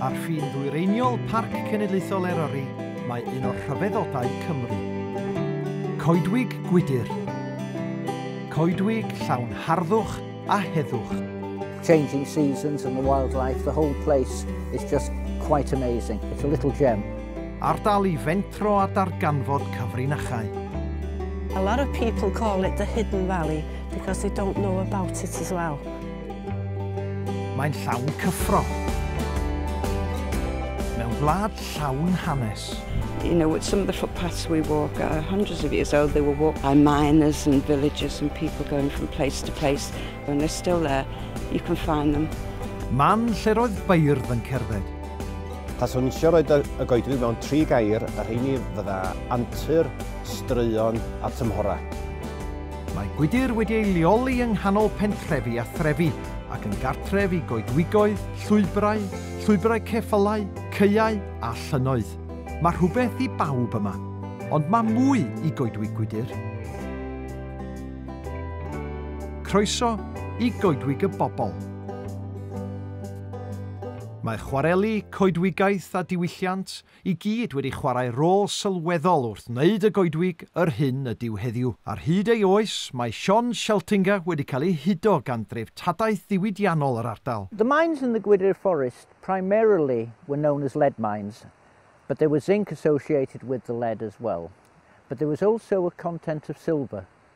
Ar ffin ddwyreiniol Parc Cenedlaethol Eryri mae un o'r rhyfeddodau Cymru. Coedwig gwydr. Coedwig llawn harddwch a heddwch. changing seasons and the wildlife, the whole place is just quite amazing. It's a little gem. Ardal i fentro a darganfod cyfrinachau. A lot of people call it the hidden valley because they don't know about it as well. Mae'n llawn cyffro. Mewn gwlad llawn hanes. You know, with some of the footpaths we walk are hundreds of years old. They were walked by miners and villagers and people going from place to place. And they're still there. You can find them. Man lle roedd beirdd yn cerdded. Taswn eisiau roed y goedwig mewn tri gair, a rheini fydda antur, straeon a tymhorau. Mae gwydr wedi ei leoli yng nghanol pentrefi a threfi, ac yn gartref i goedwigoedd, llwybrau, llwybrau ceffylau, caeau a llynnoedd. Mae rhywbeth i bawb yma. Ond mae mwy i goedwig gwydr. Croeso i Goedwig y Bobl. Mae chwareli, coedwigaeth a diwylliant i gyd wedi chwarae rôl sylweddol wrth wneud y goedwig yr hyn ydyw heddiw. Ar hyd ei oes, mae Sion Scheltinga wedi cael ei hudo gan dreftadaeth ddiwydiannol yr ardal. The mines in the Gwydir Forest primarily were known as lead mines, but there was zinc associated with the lead as well, but there was also a content of silver,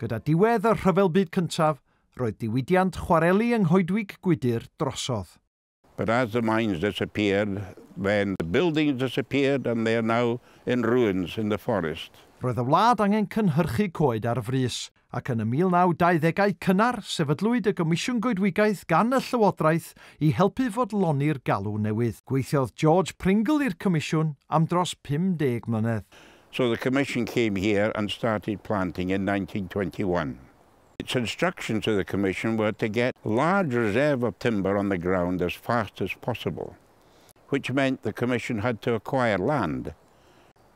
Gyda diwedd y Rhyfel Byd Cyntaf, roedd diwydiant chwareli yng Nghoedwig Gwydir drosodd. But as the mines disappeared, then the buildings disappeared and they are now in ruins in the forest. Roedd y wlad angen cynhyrchu coed ar frys, ac yn y 1920au cynnar sefydlwyd y Gomisiwn Goedwigaeth gan y Llywodraeth i helpu fodloni'r galw newydd. Gweithiodd George Pringle i'r Comisiwn am dros 50 mlynedd. So the Commission came here and started planting in 1921. Its instructions to the Commission were to get large reserve of timber on the ground as fast as possible, which meant the Commission had to acquire land,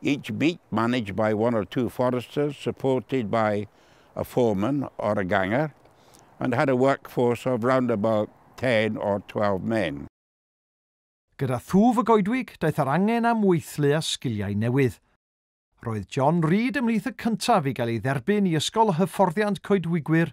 Each beat managed by one or two foresters supported by a foreman or a ganger and had a workforce of round about 10 or 12 men. Gyda thwf y goedwig, daeth yr angen am weithlu a sgiliau newydd. Roedd John Reed ymhlith y cyntaf i gael ei dderbyn i Ysgol Hyfforddiant Coedwigwyr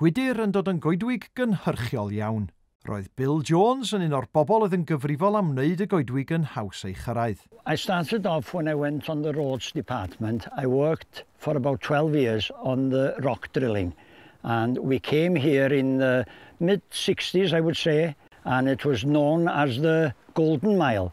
Gwydir yn dod yn goedwig gynhyrchiol iawn. Roedd Bill Jones yn un o'r bobl oedd yn gyfrifol am wneud y goedwig yn haws ei chyrraedd. I started off when I went on the roads department, I worked for about twelve years on the rock drilling and we came here in the mid sixties I would say and it was known as the Golden Mile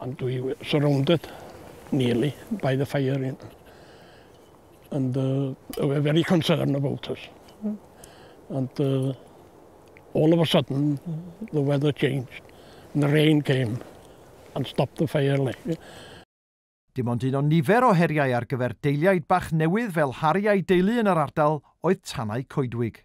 And we were surrounded nearly by the fire in, and uh, they were very concerned about us. Mm. And uh, all of a sudden, the weather changed, and the rain came and stopped the fire. Like. Dim ond un o nifer o heriau ar gyfer deiliaid bach newydd fel Harry a'i deulu yn yr ardal oedd tanau coedwig.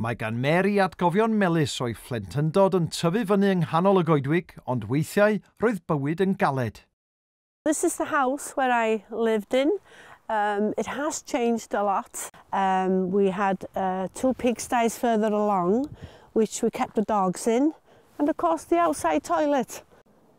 Mae gan Mary atgofion melys o'i phlentyndod yn tyfu fyny yng nghanol y goedwig, ond weithiau roedd bywyd yn galed. This is the house where I lived in, umm it has changed a lot, umm we had two pigsties further along which we kept the dogs in and of course the outside toilet.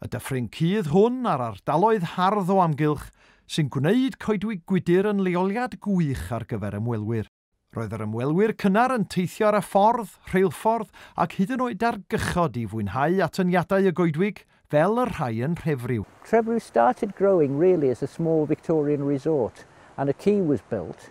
Y dyffryn cudd hwn a'r ardaloedd hardd o amgylch sy'n gwneud Coedwig Gwydir yn leoliad gwych ar gyfer ymwelwyr. Roedd yr ymwelwyr cynnar yn teithio ar y ffordd, rheilffordd ac hyd yn oed ar gychod i fwynhau atyniadau y goedwig, fel y rhai yn Nhrefriw. Trefriw started growing really as a small Victorian resort and a quay was built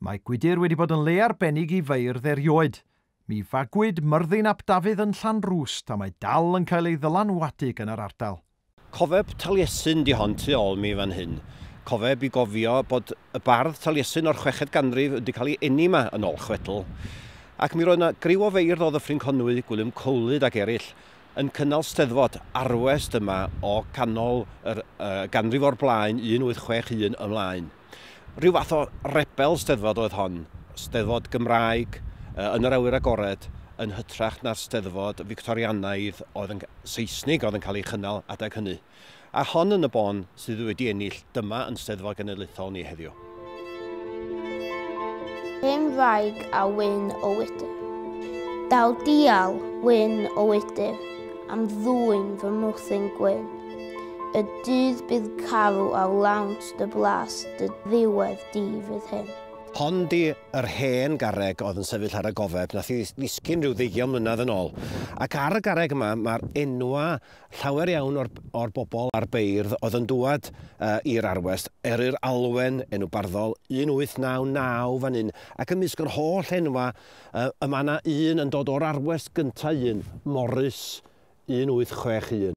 Mae gwydr wedi bod yn le arbennig i feirdd erioed. Mi fagwyd Myrddin ap Dafydd yn Llanrwst a mae dal yn cael ei ddylanwadu gan yr ardal. Cofeb Taliesin 'di hon tu ôl mi fan hyn. Cofeb i gofio bod y bardd Taliesin o'r chweched ganrif wedi cael ei eni 'ma yn ôl chwedl. Ac mi roedd 'na griw o feirdd o Ddyffryn Conwy, Gwilym Cowlyd ac eraill yn cynnal steddfod, arwest yma o ganol yr ganrif o'r blaen 1861 ymlaen. Rhyw fath o rebel Steddfod oedd hon, Steddfod Gymraeg yn yr awyr agored, yn hytrach na'r Steddfod Fictorianaidd oedd yn... Seisnig oedd yn cael ei chynnal adeg hynny. A hon yn y bôn sydd wedi ennill dyma yn Steddfod Genedlaethol ni heddiw. Hen wraig a wyn o wydr. Daw dial wyn o wydr am ddwyn fy mwthyn gwyn. Y dydd bydd carw ar lawnt Dy blas, dy ddiwedd di fydd hyn. Hon di yr hen garreg oedd yn sefyll ar y gofeb, nath i ddisgyn rhyw ddeugion mlynedd yn ôl. Ac ar y garreg yma mae'r enwa llawer iawn o'r, o'r bobl a'r beirdd oedd yn dŵad uh, i'r arwest. Eryr Alwen, enw barddol, 1899 fan hyn. Ac ymysg yr holl enwa, uh, y mae yna un yn dod o'r arwest gyntaf un, Morris, 1861.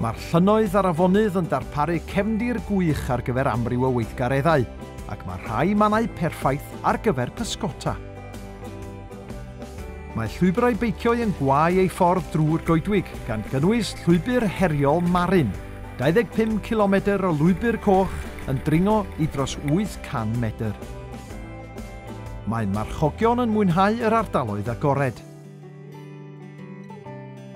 Mae'r llynnoedd a'r afonydd yn darparu cefndir gwych ar gyfer amryw o weithgareddau, ac mae rhai mannau perffaith ar gyfer pysgota. Mae llwybrau beiciau yn gwau ei ffordd drwy'r goedwig, gan gynnwys llwybr heriol Marin, 25 cilomedr o lwybr coch yn dringo i dros 800 medr. Mae marchogion yn mwynhau yr ardaloedd agored.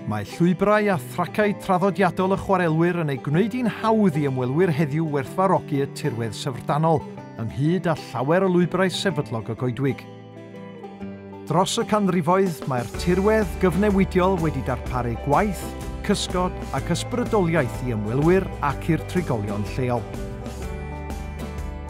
Mae llwybrau a thracau traddodiadol y chwarelwyr yn ei gwneud hi'n hawdd i ymwelwyr heddiw werthfarogi y tirwedd syfrdanol, ynghyd â llawer o lwybrau sefydlog y goedwig. Dros y canrifoedd, mae'r tirwedd gyfnewidiol wedi darparu gwaith, cysgod ac ysbrydoliaeth i ymwelwyr ac i'r trigolion lleol.